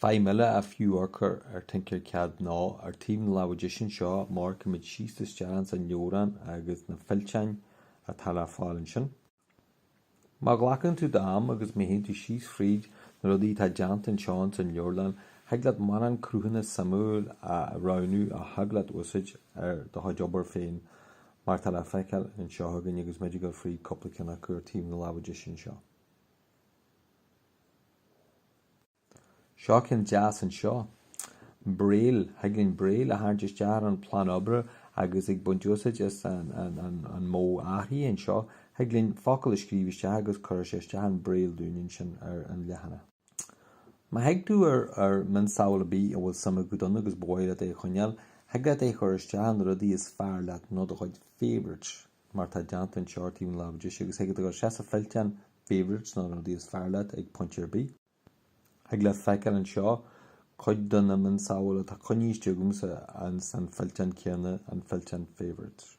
Feidhm eile ar fiú amharc air ar Tinkercad ná ar taobh na láimhe deise anseo má amharcann muid síos isteach ins an leabharlann agus na fillteáin atá le fáil ansin. Má ghlacann tú d'am agus má théann tú síos fríd na rudaí atá déanta anseo ins an leabharlann thig leat mórán cruthanna suimiúla a roghnú a thig leat úsáid ar do chuid obair féin mar tá le feiceáil anseo againn agus muid ag dul fríd cúpla ceann acu ar taobh na láimhe deise anseo. Seo ceann deas anseo. Braille, thig linn Braille a tharraingt isteach ar an bplean oibre agus ag baint úsáid as an modh athraithe anseo, thig linn focal a scríobh isteach agus cuirfidh sé isteach an Braille dúinn ansin ar an leathanach. Má thig tú ar mionsamhail ar bith a bhfuil suim agat ann agus ba mhaith leat é a choinneáil, thig leat é a chur isteach in rudaí is fearr leat nó do chuid favourites. mar tá déanta anseo ar taobh na láimhe deise, agus thig leat dul isteach sa fillteán favourites, nó na rudaí is fearr leat ag pointe ar bith. Thig leat feiceáil anseo cuid de na mionsamhail atá coinnithe istigh agamsa ins an fillteán céanna, an fillteán Favourites.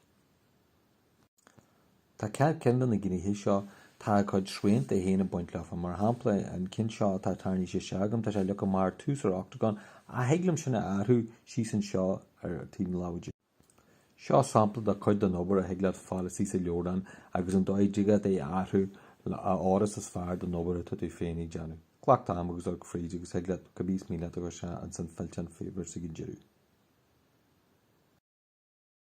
Tá gach ceann de na gnéithe seo, tá a gcuid srianta féin ag baint leofa. Mar shampla, an ceann seo atá tarraingthe isteach agam, tá sé leagtha amach ar tús ar Octagon, ach thig liom sin a athrú síos anseo ar taobh na láimhe deise. Seo sampla de chuid den obair a thig leat fáil istigh sa leabharlann agus an dóigh a dtig leat é a athrú a fhóireas is fearr don obair atá tú féin ag déanamh. Glac d'am agus amharc fríd agus thig leat cibé is mian leat a chur isteach ins an fillteán favourites ag an deireadh.